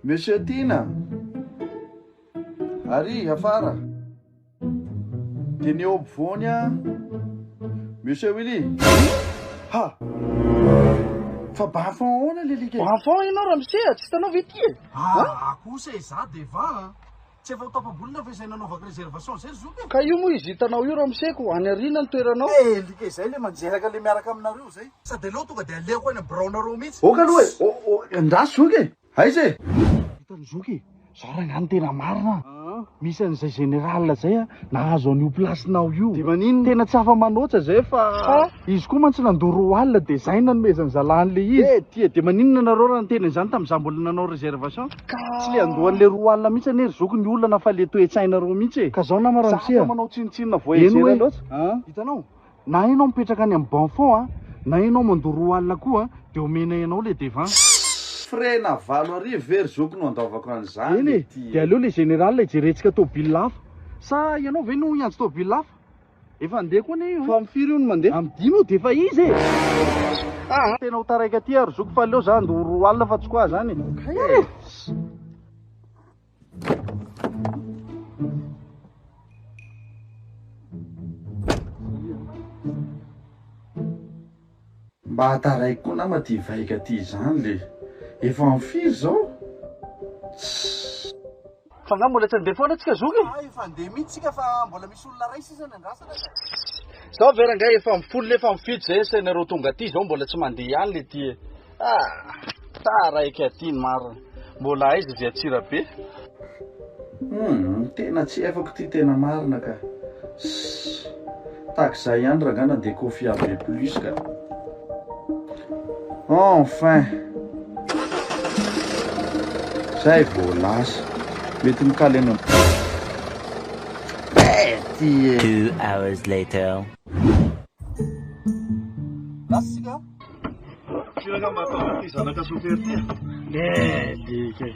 Monsieur Tiana, ary afara dia ny eo ampovoany a! Monsieur Willy, ha! Fa bafon ahoana le alika e? Bafon ianao ramose a! Tsy hitanao ve ity e? Aa kosa e za de va a! Tsy efa ho tapabolina ve zay nanaovako reservation zay ry zoky e? Ka io moa izy hitanao io ramose ko, any aoriana ny toeranao. He alika izay le manjeraka le miaraka aminareo zay. Sa de aleo tonga de alehako any am biraonareo mihitsy. Ok aloha e! Ndraso zoky e! Aiza e? Hitan'i zoky e, zao rangah no tena marina an! Misy an'izay général zay an, nahazo an'io place-nao io. De maninona? Tena tsy afa manoatra zay fa izy koa mantsy nandoa roa alina de zay nanomezan'ny zalany le izy. Eh ty e, de maninona nareo raha niteny an'izany tamin'izaho mbola nanao réservation? Ka tsy le andohan'ny le roa alina mihitsy anie ry zoky ny olana fa le toe-tsainareo mihitsy e. Ka zao nama Ramose a, zah fa manao tsinontsinona voyageur loatra an! Hitanao? Na enao mipetraka any am bon fond an, na enao mandoa roa alina koa an, de omenay anao le devant. Frais na valo arivo ve ry zoky no andoavako an'izany ity e? Eny e, de aleo le général hijerentsika tomobil hafa. Sa ianao ve no hiantso tomobil hafa? Efa handeha koa anie io an! Fa am firy io no mandeha? Am dimy io de efa izy e! Aa! Tena ho taraika aty aho ry zoky fa aleo za andoa roa alina fa tsy quoi zany e! Kay e! Mba taraiky koa nama ty vaika ty zany le efa am firy zao? Tss. Fa nga mbola tsy andeha foana tsika zoky e? Nga efa andeha mitsy tsika fa mbola misy olona ray sisa ny andrasana ka. Tss. Zao ve rangah efa am folo nefa am fito zay asa nareo tonga aty zao mbola tsy mandeha ihany le ty e? Ah! Taraiky aty ny marina. Mbola aiza izay Antsirabe? Humm, tena tsy efako ty tena marina ka. Sss, tahaka izay ihany rangah na dia kofy ave plus ka. Enfin! Zay vao lasa. Mety mikaly any am. Bety e! Two hours later. Lasa isika a! Firy angamba ataonao ity zanaka chauffeur ity a? Melik e!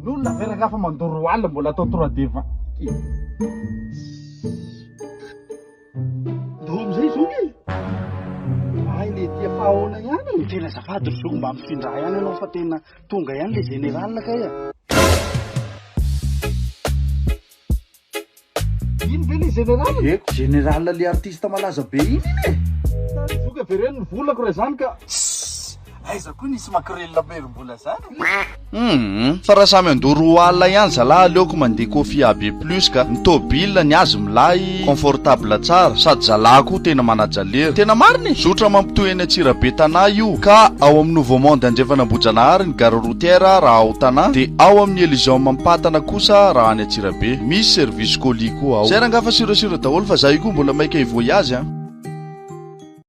N'olona ve rangahy fa mandoro roa alina mbola atao trois de vingt Ndao amin'izay zony e! Ay le ty efa ahoana ihany e! Tena azafady ry zoky mba mifindrà ihany ianao fa tena tonga ihany le général kay a! Ino ve le general? Diako, general le artiste malaza be iny iny e! Zoky avereno ny volako raha izany ka! Sss! Aiza koa nisy makorelina maherim-bola zany e! Humm! Fa raha samy handoa roa alina ihany zalah aleoko mandeha kofia AB plus ka! Ny tôbila, ny azy milay, confortable tsara, sady zalah koa tena manaja lera! Tena marina e! Zotra mampitohy any Antsirabe Tanà io ka! Ao amin'ny Nouveau Monde Andrefan'Ambohijanahary ny gare routière raha ao Tanà, dia ao amin'ny Elysium Ampatana kosa raha any Antsirabe. Misy service colis koa ao. Zay rangah fa sur et sur daholo fa za io koa mbola maika hi voyage an.